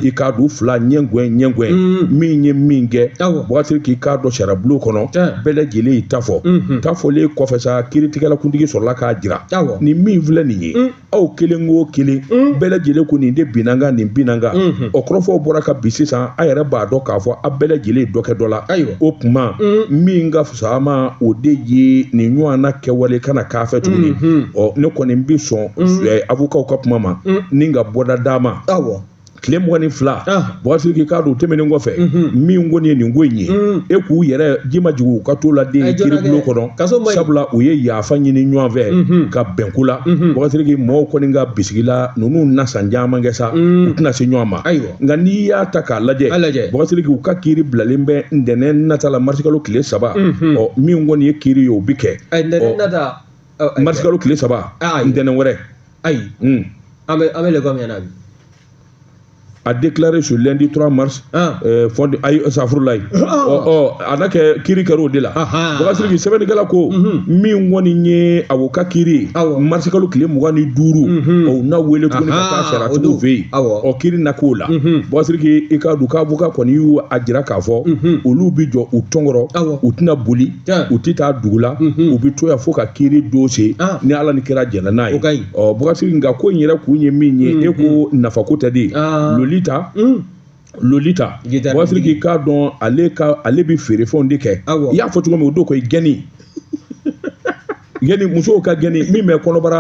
i k'a dɔn fila ɲɛgɛn ɲɛgɛn min ye min kɛ bɔkasiriki i k'a dɔn sariyabulon kɔnɔ bɛɛ lajɛlen y'i ta fɔ ta fɔlen kɔfɛ sa kiiritigɛlakuntigi sɔrɔla k'a jira Awɔ. nin min filɛ nin ye aw kelen o kelen bɛɛ lajɛlen ko nin de binna n kan nin binna n kan o kɔrɔfɔw bɔra ka bi sisan a yɛrɛ b'a dɔn k'a fɔ a bɛɛ lajɛlen ye dɔ kɛ dɔ la Ayiwa. o tuma min ka fisa a ma o de ye nin ɲɔgɔn na kɛwale kana k'a fɛ tuguni ɔ ne kɔni bɛ sɔn eh, avokaw ka kuma ma ni ka bɔda d'a ma Awɔ. tile mugan ni fila ah. bɔkasiriki k'a dɔn o tɛmɛnen kɔfɛ mhm. min kɔni ye nin ko in ye mm. e k'u yɛrɛ ji ma jigin u ka t'o la den eh, kiribulon kɔnɔ sabula u ye yafa ɲini ɲɔgɔn fɛ mhm. ka bɛn ko la mhm. bɔkasiriki mɔgɔw kɔni ka bisigi la ninnu na san caman kɛ sa mm. u tɛna se ɲɔgɔn ma nka n'i y'a ta k'a lajɛ bɔkasiriki u ka kiri bilalen bɛ ntɛnɛn nata la marisikalo tile saba ɔ min kɔni ye kiri ye o bi kɛ eh, marisikalo tile saba ntɛnɛn wɛrɛ ayi an bɛ an bɛ lɛkɔli min na bi a déclaré ce lundi 3 mars ah. euh, fond ayi safurulayi ah. ɔ ɔ a na kɛ kiri kɛra o de la bakasiriki sɛbɛnnikɛla ko mhm. min kɔni ye u ka kiri marisikalo tile mugan ni duuru mhm. u na wele tuguni ka taa sariyatigiw fɛ yen ɔ kiri na k'o la mhm. bakasiriki i k'a dɔn k'avocat kɔni y'a jira k'a fɔ olu bɛ jɔ u tɔn kɔrɔ u tɛna boli u tɛ taa dugu la u bɛ to yan fo ka kiri don se ni ala ni kira jɛnna n'a ye bɔkasiriki nka ko in yɛrɛ kun ye min ye e ko nafa ko tɛ dɛ lolita lolita bɔkasiriki k'a dɔn ale ale bɛ feerefɛnw de kɛ i y'a fɔ cogo min o don ko i gɛni gɛni musow ka gɛni min bɛ kɔnɔbara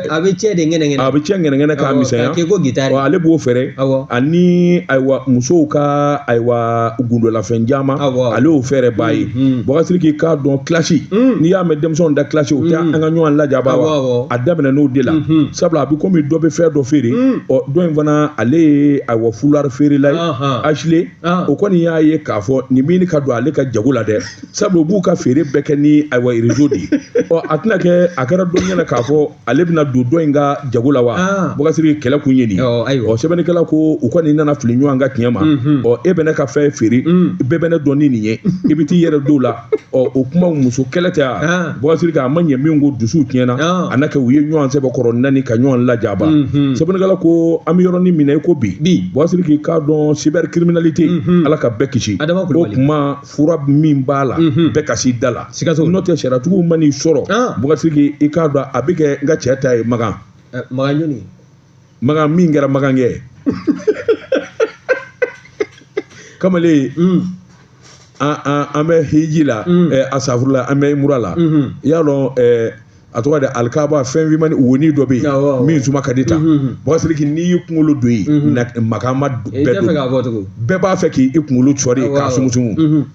a bɛ cɛ de ŋɛnɛŋɛnɛ a bɛ cɛ ŋɛnɛŋɛnɛ k'a misɛnya k'i ko gitari ale b'o feere ani ayiwa musow ka ayiwa gundolafɛn caman ale y'o feerebaa ye bakasiriki k'a dɔn kilasi n'i y'a mɛn denmisɛnw da kilasi o tɛ an ka ɲɔgɔn lajaba wa a daminɛ n'o de la sabula a bɛ komi dɔ bɛ fɛn dɔ feere ɔ dɔ in fana ale ye ayiwa fulari feerela ye asile o kɔni y'a ye k'a fɔ nin bɛ ka don ale ka jago la dɛ sabu u b'u ka feere bɛɛ kɛ ni ayiwa rezo de ye ɔ a tɛna kɛ a kɛra dɔ ɲɛna k'a fɔ ale bɛna don dɔ in ka jago la wa ah. bɔkasiriki kɛlɛ kun ye nin ɔ sɛbɛnnikɛla ko u kɔni nana fili ɲɔgɔn ka tiɲɛ ma mhm. ɔ e bɛ ne ka fɛn feere mm. bɛɛ bɛ ne dɔn ni nin ye i bɛ t'i yɛrɛ don o la ɔ o kuma muso kɛlɛ tɛ wa ah. bɔkasiriki a ma ɲɛ min kɔ dusuw tiɲɛna ah. a na kɛ u ye ɲɔgɔn sɛbɛkɔrɔ neni ka ɲɔgɔn lajaba mhm. sɛbɛnnikɛla ko an bɛ yɔrɔnin min na i ko bi bɔkasiriki k'a dɔn cybercriminalité mhm. ala ka bɛɛ kisi o kuma fura min b'a la mhm. bɛɛ ka s'i da la sikaso n'o tɛ sariyatigiw man'i sɔrɔ ah. bɔkasiriki i k'a dɔn a bɛ kɛ n ka cɛ ta ye makan eh, makan jɔni makan min kɛra makan kɛ kamalen mm. an bɛ hiji la mm. eh, asafurula an bɛ umura la mhm. i y'a dɔn eh, a tɔgɔ de alikaba fɛn fimani woni dɔ bɛ yen min suma ka di ta bɔsiriki n'i y'i kunkolo don yen maka maa bɛɛ don bɛɛ b'a fɛ k'i kunkolo cɔri k'a sumusumu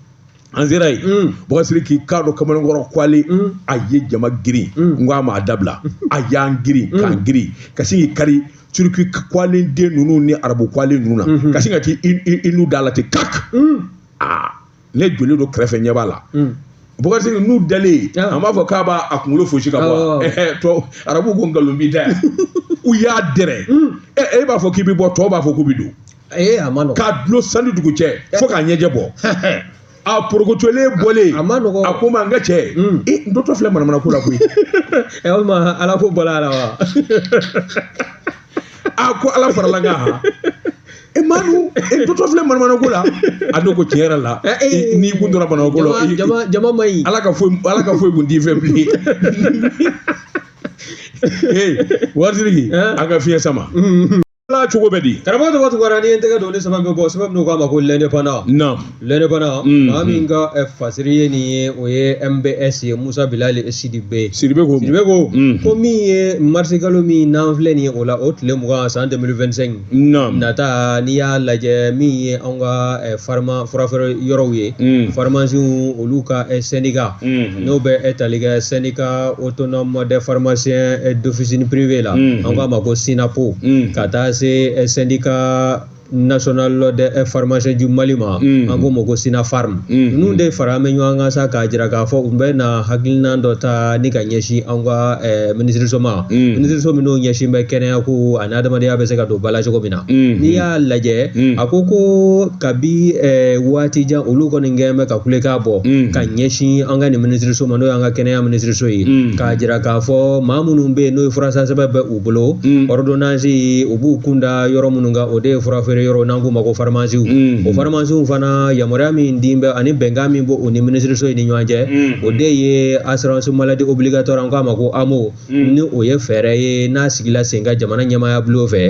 an sera yen bɔsiri k'i k'a dɔn kamalenkɔrɔ kwale a ye jama girin n ko a ma a dabila a y'an girin k'an girin ka sin k'i kari turiki kwalen den ninnu ni arabu kwalen ninnu na ka sin ka t'i n'u da la ten kaki aa ne jɔlen don kɛrɛfɛ ɲɛ b'a la bɔgɔti n'u dalen an b'a fɔ k'a b'a a kunkolo fosi ka bɔ tɔ arabu ko nkalon b'i da u y'a dɛrɛ e b'a fɔ k'i bɛ bɔ tɔw b'a fɔ k'u bɛ don k'a dulon san ni dugu cɛ fo k'a ɲɛjɛ bɔ a porokotolen bɔlen a ma nɔgɔ a ko ma n ka cɛ e n totɔ filɛ manamana ko la koyi ɛ walima ala ko bɔra a la wa a ko ala farala n ka e manu n totɔ filɛ manamana ko la a don ko tiɲɛ yɛrɛ la eh, eh, eh, n'i kun tora manamana ko la jama ma ɲi ala ka foyi ala ka foyi kun t'i fɛ bilen ee waritigi an ka fiɲɛ sama ala cogo bɛ di karamɔgɔ tɔgɔ tugura n'i ye n tɛgɛ don ni sɛbɛn bɛ bɔ sɛbɛn min k'a ma ko l'indépendant na l'indépendant mm. maa min ka eh, fasiri ye nin ye o ye mbs ye musa bilali sidibe sidibe ko sidibe ko mm. ko min ye marisi kalo min n'an filɛ nin ye o la o tile mugan san 2025 naam nata n'i y'a lajɛ min ye anw ka eh, farima furafeere yɔrɔw ye mm. farimasiw olu ka eh, syndicat mm-hmm. n'o bɛ tali kɛ syndicat autonome des pharmaciens d'officine privée la mm-hmm. an k'a ma ko synappo ka taa se syndicat national des eh, pharmaciens du mali ma mm. an k'o ma ko synapharm mm. ninnu de faralen bɛ ɲɔgɔn kan sa k'a jira k'a fɔ u bɛ na hakilina dɔ ta ni ka ɲɛsin an ka eh, minisiriso ma mm. minisiriso minnu ɲɛsin bɛ kɛnɛya ko ani adamadenya bɛ se ka don ba la cogo min na mm-hmm. n'i y'a lajɛ mm. a ko ko kabi eh, waati jan olu kɔni kɛn bɛ ka kulekan bɔ mm. ka ɲɛsin an ka nin minisiriso ma n'o y'an ka kɛnɛya minisiriso ye k'a jira k'a fɔ maa minnu bɛ yen n'o ye furasansɛbɛn bɛ u u bolo mm. ordonnance u b'u kunda yɔrɔ minnu kan o de ye furafeere yɔrɔ n'an k'u ma ko faramasiw mm. o faramasiw fana yamaruya min di bɛ ani bɛnkan min b'o o ni minisiriso ye ni ɲɔgɔn cɛ mm. o de ye assurance maladie obligatoire an k'a ma ko amo ni o ye fɛɛrɛ ye n'a sigila sen kan jamana ɲɛmaaya bulon fɛ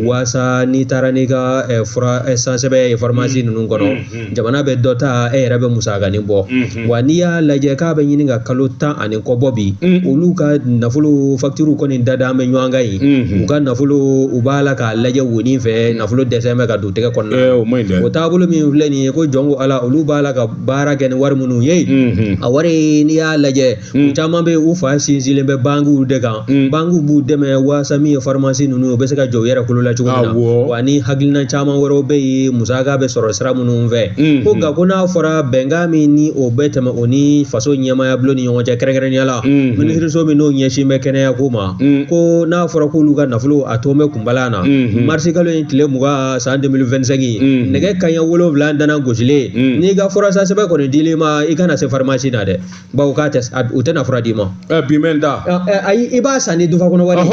waasa n'i taara n'i ka eh, fura eh, sansɛbɛn ye faramasi ninnu kɔnɔ Mm. jamana bɛ dɔ ta e yɛrɛ bɛ musakanin bɔ mm-hmm. wa n'i y'a lajɛ k'a bɛ ɲini ka kalo tan ani kɔ bɔ bi mm. olu ka nafolo fakituru kɔni dadalen bɛ ɲɔgɔn kan yen mm-hmm. u ka nafolo u b'a la k'a lajɛ wonin fɛ mm. nafolo dɛsɛ bɛ ka don tɛgɛ kɔnɔna eh, o taabolo min filɛ nin ye ko jɔn ko ala olu b'a la ka baara kɛ ni wari minnu ye mm-hmm. a wari n'i y'a lajɛ Mm. caman bɛ yen u fa sinsinlen bɛ bankiw de kan mm. bankiw b'u dɛmɛ waasa min ye farimasi ninnu u bɛ se ka jɔ u yɛrɛ kolo la cogo min na wa ni hakilina caman wɛrɛw bɛ yen musaka bɛ sɔrɔ sira minnu fɛ mm-hmm. ko nka ko n'a fɔra bɛnkan min ni o bɛ tɛmɛ u ni faso ɲɛmaaya bulon ni ɲɔgɔn cɛ kɛrɛnkɛrɛnnenya la mm-hmm. minisiriso min n'o ɲɛsin bɛ kɛnɛya ko ma mm. ko n'a fɔra k'olu ka nafolo a to bɛ kunbala na mm-hmm. marisi kalo in tile mugan san 2025 nɛgɛ kaɲɛ wolonwula dana gosilen n'i ka furasɛbɛn kɔni dil'i ma i kana se farimasi na dɛ bawo k'a tɛ u tɛna fura d'i ma. ɛ bi mɛn da. ayi i b'a san n'i dufa kɔnɔ wari ye.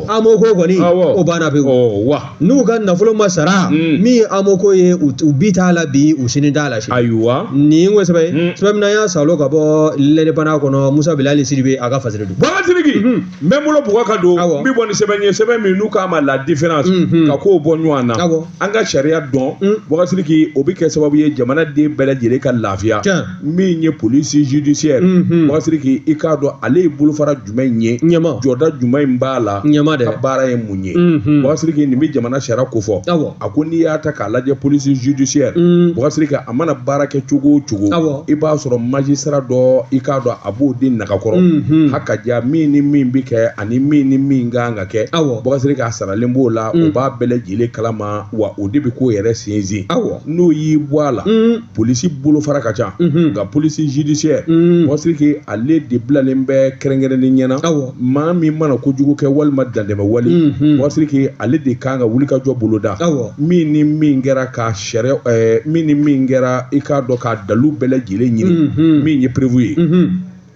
AMO ko kɔni o banna pewu. wa n'u ka nafolo ma sara. min ye AMO ko ye u bi t'a la bi u sini t'a la. ayiwa nin ko sɛbɛn ye. sɛbɛn min n'an y'a sɔrɔ ka bɔ L'Indépendant kɔnɔ Musa Bilali Sidibe a ka fasiri don. Bubakari Sidiki n bɛ n bolo bɔgɔ ka don n bɛ bɔ ni sɛbɛn ye sɛbɛn min n'u k'a ma la différence ka ko bɔ ɲɔgɔn na an ka sariya dɔn Bubakari Sidiki o bɛ kɛ sababu ye jamanaden bɛɛ lajɛlen ka lafiya. min ye polisi judiciaire unhun Bubakari Sidiki i k'a dɔn ale ye bolofara jumɛn in ye ɲɛma jɔda jumɛn in b'a la ɲɛma dɛ ka baara ye mun ye unhun Bubakari Sidiki nin bɛ jamana sariya kofɔ awɔ a ko n'i y'a ta k'a lajɛ polisi judiciaire un Bubakari Sidiki a mana baara kɛ cogo o cogo awɔ i b'a sɔrɔ magistrat dɔ i k'a dɔn a b'o de nagakɔrɔ unhun a k'a jira min ni min bɛ kɛ ani min ni min ka kan ka kɛ awɔ Bubakari Sidiki a saralen b'o la Mm. o b'a bɛɛ lajɛlen kalama wa o de bɛ ko yɛrɛ sinsin awɔ n'o y'i bɔ a la un polisi bolofara ka ca mhm. nka polisi judiciaire mhm. Bubakari Sidiki ale de bilalen bɛ kɛrɛnkɛrɛnnen ɲɛna maa min mana kojugu kɛ walima dantɛmɛ wale mhm. Bubakari Sidiki ale de kan ka wulikajɔ boloda min ni min kɛra ka sariya eh, min ni min kɛra i k'a dɔn k'a dalu bɛɛ lajɛlen ɲini min ye preuve ye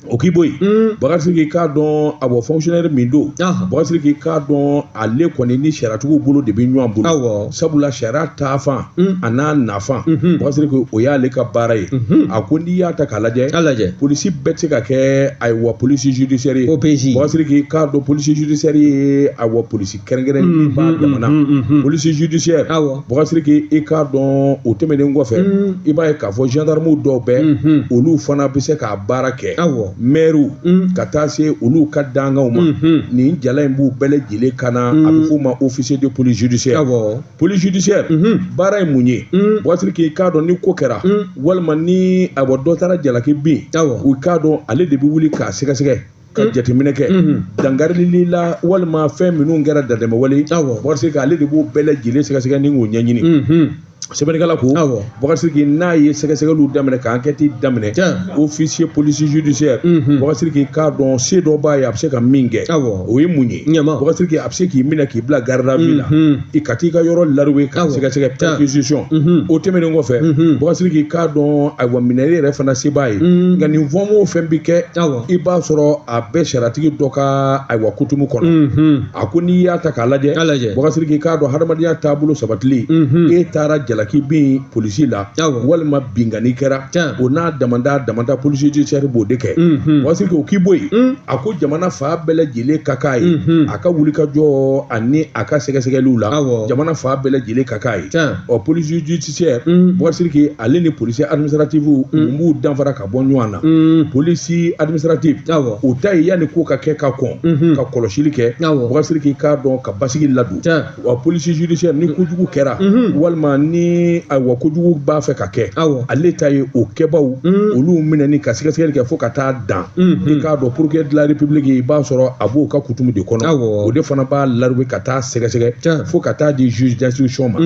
o k'i bɔ yen mm. Bubakari Sidiki i k'a dɔn a bɔ fɔnkisiyɔnɛri min don Bubakari Sidiki i k'a dɔn ale kɔni ni sariyatigiw bolo de bɛ ɲɔgɔn bolo sabula sariya taafan mm. an'a nafan mm-hmm. Bubakari Sidiki o y'ale ka baara ye mm-hmm. a ko n'i y'a ta k'a lajɛ polisi bɛɛ tɛ se ka kɛ ayiwa polisi judisiyɛri ye OPJ Bubakari Sidiki i k'a dɔn polisi judisiyɛri ye ayiwa polisi kɛrɛnkɛrɛnnen b'a jamana polisi judiciaire awɔ Bubakari Sidiki i k'a dɔn o tɛmɛnen kɔfɛ i b'a ye k'a fɔ gendarmew dɔw bɛ olu fana bɛ se k'a baara kɛ awɔ mɛriw ka taa se olu ka dankanw ma nin jala in b'u bɛɛ lajɛlen kan na a bɛ f'o ma officier de police judiciaire awɔ police judiciaire baara ye mun ye Bubakari Sidiki i k'a dɔn ni ko kɛra walima ni a bɔ dɔ taara jalaki bin awɔ i k'a dɔn ale de bɛ wuli k'a sɛgɛsɛgɛ ka mm. jateminɛ kɛ mm-hmm. dankarili la walima fɛn minnu kɛra dantɛmɛ wale Bubakari Sidiki ale de b'o bɛɛ lajɛlen sɛgɛsɛgɛ ni k'o ɲɛɲini mm-hmm. sɛbɛnnikɛla ko Bubakari Sidiki n'a ye sɛgɛsɛgɛliw daminɛ ka ankɛti daminɛ ofisiye polisi judisiyɛri mm-hmm. Bubakari Sidiki i k'a dɔn se dɔ b'a ye a bɛ se ka min kɛ o ye mun ye Bubakari Sidiki a bɛ se k'i minɛ k'i bila garde à vue la i ka t'i ka yɔrɔ lariwe ka sɛgɛsɛgɛ perquisition o tɛmɛnen kɔfɛ Bubakari Sidiki i k'a dɔn ayiwa minɛli yɛrɛ fana se b'a ye nka nin fɛn o fɛn bɛ kɛ i b'a sɔrɔ a bɛɛ sariyatigi dɔ ka ayiwa kutumu kɔnɔ a ko n'i y'a ta k'a lajɛ bakari siriki k'a dɔn hadamadenya taabolo sabatili e taara jalaki bin polisi la walima binkanni kɛra o n'a damada damada polisi judiciaire b'o de kɛ bakari siriki o k'i bɔ yen a ko jamana fan bɛɛ lajɛlen ka k'a ye a ka wulikajɔ ani a ka sɛgɛsɛgɛliw la jamana fan bɛɛ lajɛlen ka k'a ye ɔ polisi judiciaire bakari siriki ale ni polisi administrative mun b'u danfara ka bɔ ɲɔgɔn na mm. polisi administrative o ta ye yanni ko ka kɛ ka kɔn mm-hmm. ka kɔlɔsili kɛ bakari siriki i k'a dɔn ka basigi ladon wa polisi judiciaire ni kojugu kɛra mm-hmm. walima ni ayiwa kojugu b'a fɛ ka kɛ ale ta ye o kɛbaw mm. olu minɛni ka sɛgɛsɛgɛli kɛ fo ka taa dan mm-hmm. i k'a dɔn procureur de la république i b'a sɔrɔ a b'o ka kutumu de kɔnɔ o de fana b'a larube ka taa sɛgɛsɛgɛ fo ka taa di juge d'instruction ma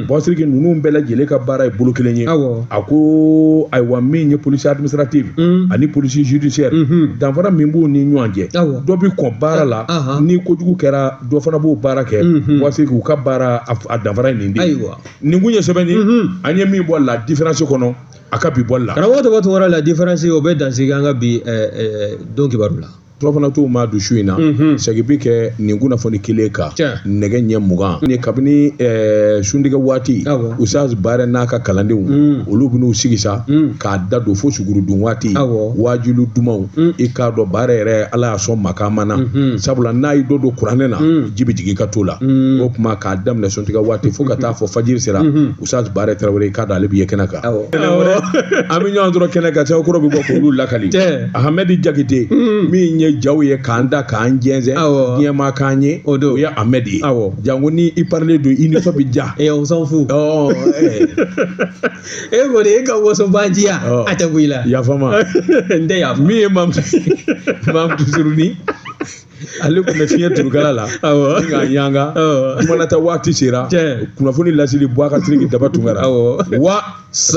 bakari siriki ninnu bɛɛ lajɛlen ka baara ye bolo kelen ye a ko ayiwa min ye polisi administrative mm. ani polisi judiciaire mm -hmm. danfara min b'u ni ɲɔgɔn cɛ dɔ bi kɔn baara la uh -huh. ni kojugu kɛra dɔ fana b'o baara kɛ mm -hmm. bakari siriki u ka baara a danfara nin de nin kun ye sɛbɛnni mm -hmm. an ye min bɔ la différence kɔnɔ a ka bi bɔli la karamɔgɔ tɔgɔ tɔgɔ la différence o bɛ dansigi an ka bi eh, eh, don kibaru la tɔɔrɔ fana t'o ma don su in na mhm. segin bi kɛ nin kunnafoni kelen kan nɛgɛ ɲɛ mugan ni kabini eh, suntigɛ waati usaz barɛ n'a ka kalandenw mm. olu bɛn'u sigi sa mm. k'a da don fo sugurudun waati wajilu dumanw mm. i k'a dɔn barɛ yɛrɛ ala y'a sɔn makaama na mhm. sabula n'a y'i dɔ don kuranɛ na ji bɛ jigin i ka to la o kuma k'a daminɛ suntigɛ waati fo ka taa fɔ fajiri sera mhm. sa barɛ tarawele k'a dɔn ale bɛ ye kɛnɛ kan an bɛ ɲɔgɔn sɔrɔ kɛnɛ kan cɛkɔrɔ bɛ bɔ k'olu lakali ahmɛdi jakite mm. min ye jaw ye k'an da k'an jɛnsɛn diɲɛ ma k'an ye o don o ye ahmɛdi ye janko ni i parilen don i nisɔn bɛ diya ɛ on s'en fout e kɔni e ka wasobaanciya a tɛ bɔ i la yafama n tɛ yafa min ye mamutu mamutu suruni ale tun bɛ fiɲɛ turukala la an ka yan kumanata waati sera kunnafoni laseli bakari siriki daba tunkara wa